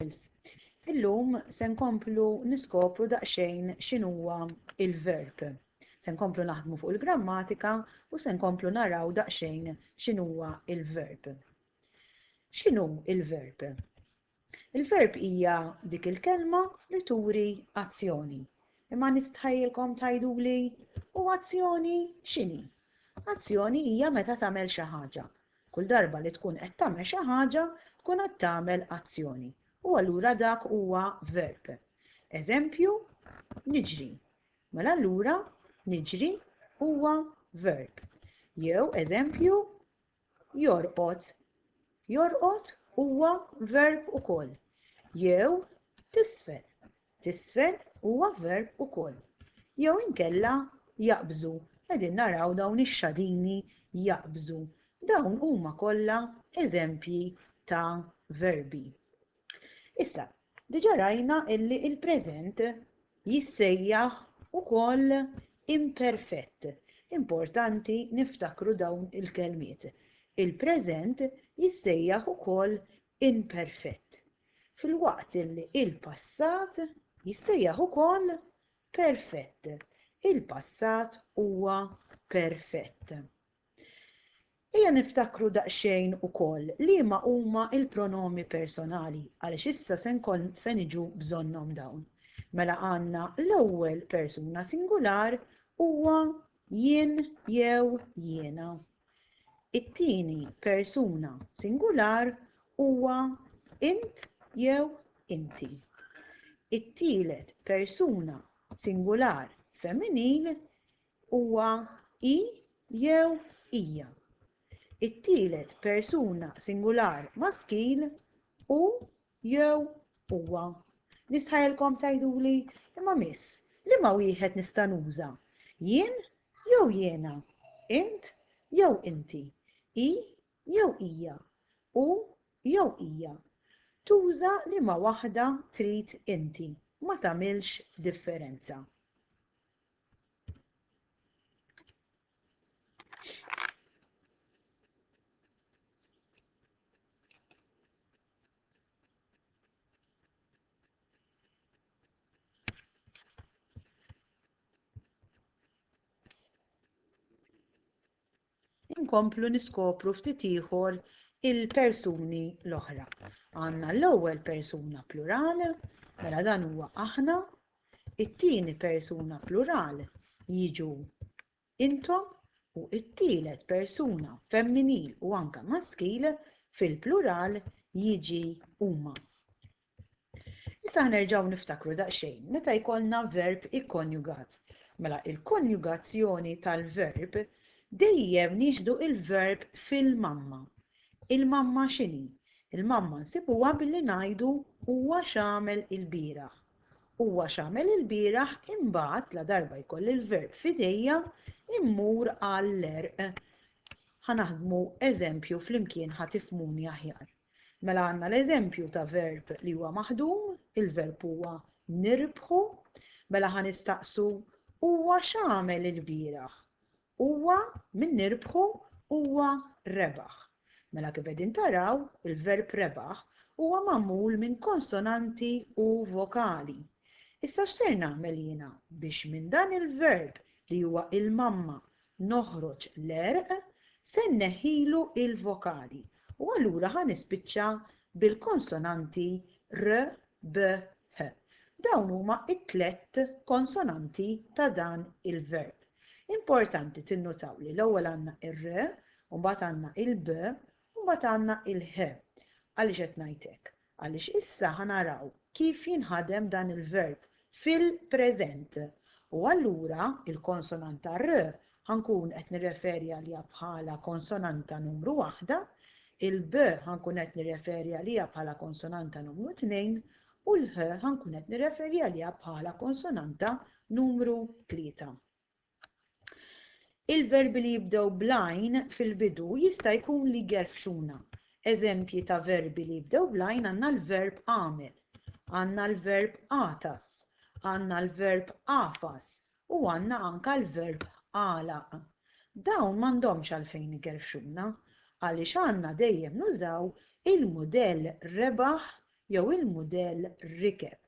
Pulse. Illum se nkomplu niskopru daqsxejn x'inhuwa l-verb. Se nkomplu naħdmu fuq il-grammatika u se nkomplu naraw daqsxejn x'inhuwa l-verb. X'inhu l-verb? Il-verb hija dik il-kelma li turi azzjoni. Imma nistħajilkom tgħiduli u azzjoni x'inhi? Azzjoni hija meta tagħmel xi ħaġa. Kull darba li tkun qed tagħmel xi ħaġa, tkun qed tagħmel azzjoni, u allura dak huwa verb. Eżempju, niġri. Mela allura niġri huwa verb. Jew eżempju, jorqod. Jorqod huwa verb ukoll. Jew tisfel. T'isfel huwa verb ukoll. Jew inkella jaqbżu, qegħdin naraw dawn ix-xadini jaqbżu. Dawn huma kollha eżempji ta' verbi. Issa, diġà rajna illi il-preżent jissejjaħ ukoll imperfett. Importanti niftakru dawn il-kelmiet. Il-preżent jissejjaħ ukoll imperfett, filwaqt li l-passat jissejjaħ ukoll perfett. Il-passat huwa perfett. Ejja niftakru daqsxejn ukoll liema huma l-pronomi personali għaliex issa se nkoll se niġu bżonnhom dawn. Mela għandna l-ewwel persuna singular huwa jien jew jiena. It-tieni persuna singular huwa int jew inti. It-tielet persuna singular femminil huwa hi jew hija. It-tielet persuna singular maskil hu Jew huwa, Nistħajjilkom tgħiduli, Imma Miss, liema wieħed nista' nuża? Jien jew jiena? Int jew inti? Hi jew hija? Hu jew hija? Tuża liema waħda trid inti, ma tagħmilx differenza. inkomplu niskopru ftit ieħor il-persuni l-oħra. Għandna l-ewwel persuna plural, mela dan huwa aħna, it-tieni persuna plural jiġu intom u t-tielet persuna femminil u anke maskil fil-plural jiġi huma. Issa ħanerġgħu niftakru daqsxejn meta jkollna verb ikkonjugat. Mela il-konjugazzjoni tal-verb dejjem nieħdu l-verb fil-mamma. Il-mamma x'inhi? Il-mamma nsibuha billi ngħidu huwa x'għamel ilbieraħ. Huwa x'għamel ilbieraħ imbagħad ladarba jkolli l-verb f'idejja mmur għall-għerq. Ħa naħdmu eżempju flimkien ħa tifhmuni aħjar. Mela għandna l-eżempju ta' verb li huwa maħdum, il-verb huwa nirbħu. Mela ħa nistaqsu huwa x'għamel ilbieraħ? Huwa min nirbħu huwa rebaħ. Mela kif qegħdin taraw, il-verb rebaħ huwa magħmul minn konsonanti u vokali. Issa x'ser nagħmel jiena biex minn dan il-verb li huwa il-mamma noħroġ l-għerq, se nneħħilu l-vokali u allura ħa nispiċċa bil-konsonanti r b, h. Dawn huma t-tlett konsonanti ta' dan il-verb. Importanti tinnutaw li l-ewwel għandna r, u mbagħad għandna l-b, u mbagħad għandna l-h. Għaliex qed ngħid hekk? Għaliex issa ħa naraw kif jinħadem dan il-verb fil-preżent, u allura il-konsonanta r ħa nkun qed nirreferi għaliha bħala konsonanta numru waħda, il-b ħa nkun qed nirreferi għaliha bħala konsonanta numru tnejn u l-ħ ħa nkun qed nirreferi għaliha bħala konsonanta numru tlieta. Il-verbi li jibdew bl-għajn fil-bidu jista' jkun li jgerfxuna. Eżempji ta' verbi li jibdew bl-għajn għandna l-verb għamel, għandna l-verb għatas, għandna l-verb għafas u għandna anke l-verb għalaq. Dawn m'għandhomx għalfejn igerfxuna għaliex għandna dejjem nużaw il-mudell rebaħ jew il-mudell rikeb,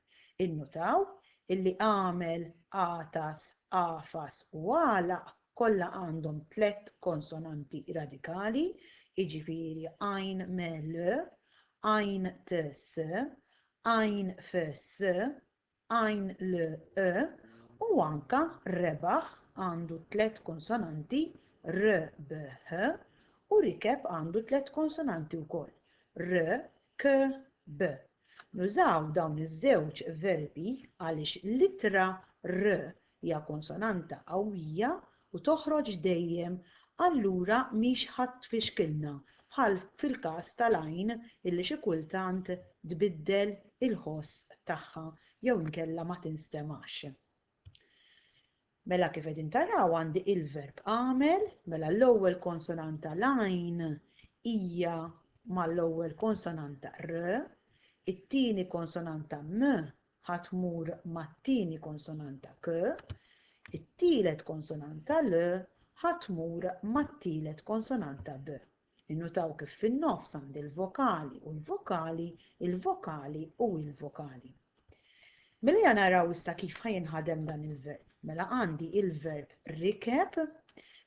innutaw illi għamel, għatas, għafas u għalaq kollha għandhom tliet konsonanti radikali, jiġifieri għajn me l, għajn t s, għajn f s, Għajn l, e u anke rebaħ għandu tliet konsonanti, r, b, h, u rikeb għandu tliet konsonanti wkoll, r, k, b. Nużaw dawn iż-żewġ verbi għaliex l-ittra r Hija konsonanta qawwija u toħroġ dejjem, allura mhix ħa tfixkilna bħal fil-każ tal-għajn illi xi kultant tbiddel il-ħoss tagħha jew inkella ma tinstemax. Mela kif qegħdin taraw għandi il-verb għamel, mela l-ewwel konsonanta l-għajn hija mal-ewwel konsonanta r, it-tieni konsonanta m Ħa tmur mat-tieni konsonanta k, it-tielet konsonanta l ħa tmur mat-tielet konsonanta b. Innutaw kif fin-nofs għandi l-vokali u l-vokali, il-vokali u il-vokali. Mela ja naraw issa kif ħa jinħadem dan il-verb. Mela għandi il-verb rikeb,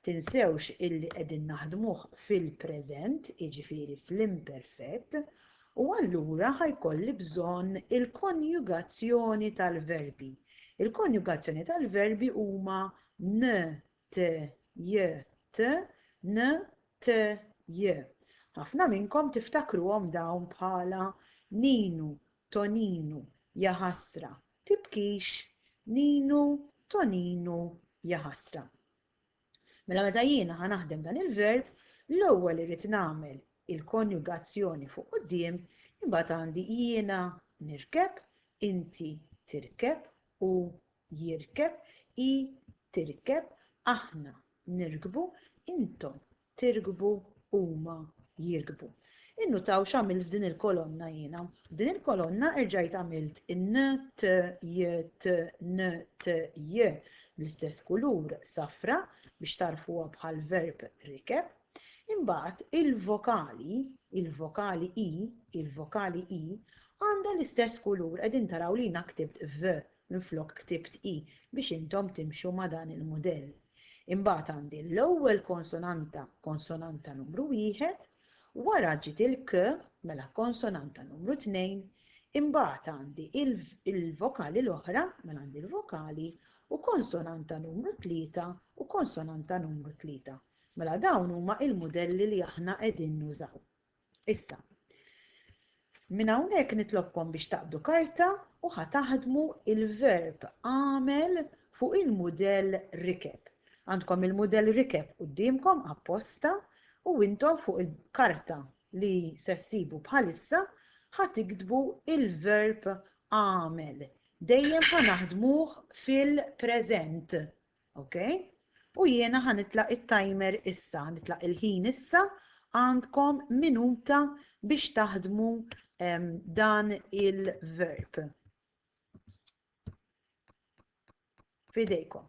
tinsewx illi qegħdin naħdmuh fil-preżent, iġifieri fl-imperfett, U allura ħa jkolli bżonn il-konjugazzjoni tal-verbi. Il-konjugazzjoni tal-verbi huma n, t, j, t, n, t, j. Ħafna minnkom tiftakruhom dawn bħala Ninu, Toninu, jaħasra, tibkix, Ninu, Toninu, jaħasra. Mela meta jiena ħa naħdem dan il-verb, l-ewwel irrid nagħmel il-konjugazzjoni fuq quddiem, imbagħad għandi jiena nirkeb, inti tirkeb, hu jirkeb, hi tirkeb, aħna nirkbu, intom tirkbu huma jirkbu. Innutaw x'għamilt f'din il-kolonna jiena. F'din il-kolonna erġajt għamilt n, t, j, t, n, t, j bl-istess kulur safra biex tarfuha bħal verb rikeb. Imbagħad il-vokali, il-vokali i, il-vokali i għandha l-istess kulur qegħdin taraw li jiena ktibt v minflok ktibt i biex intom timxu ma' dan il-mudell. Imbagħad għandi l-ewwel konsonanta, konsonanta numru wieħed, wara ġiet il-k, mela konsonanta numru tnejn, imbagħad għandi l-vokali l-oħra, mela għandi l-vokali, u konsonanta numru tlieta u konsonanta numru tlieta. Mela dawn huma l-mudelli li aħna qegħdin nużaw. Issa, minn hawnhekk nitlobkom biex taqbdu karta u ħa taħdmu l-verb agħmel fuq il-mudell rikeb. Għandkom il-mudell rikeb quddiemkom apposta u intom fuq il-karta li se ssibu bħalissa ħa tiktbu l-verb agħmel. Dejjem ħa naħdmuh fil-preżent. Ok? U jiena ħanitlaq it-timer issa, ħanitlaq il-ħin issa, għandkom minuta biex taħdmu um, dan il-verb. Fidejkom.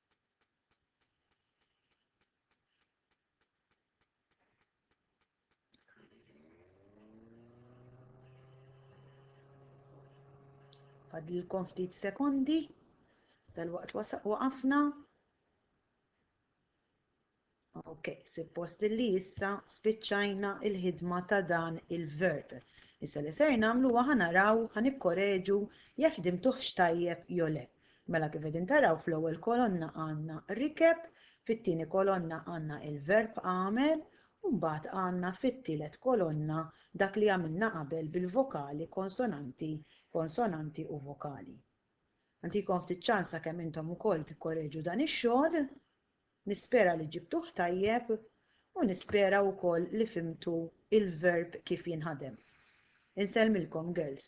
Fadlilkom ftit sekondi, dal-waqt waqafna. Ok, suppost li issa spiċċajna il-ħidma ta' dan il-verb. Issa li ser namlu għan naraw għan ikkoreġu jekk ħdimtuħx tajjeb jole. Mela kif edin taraw fl-ewwel kolonna għanna rikeb, fit-tieni kolonna għanna il-verb għamel, u mbagħad għanna fit-tielet kolonna dak li għamilna qabel bil-vokali konsonanti, konsonanti u vokali. Għantikom ftit ċansa kemm intom ukoll tikkoreġu dan ix-xogħol. Nispera li ġibtuh tajjeb u nispera wkoll li fhimtu il-verb kif jinħadem. Insellmilkom girls.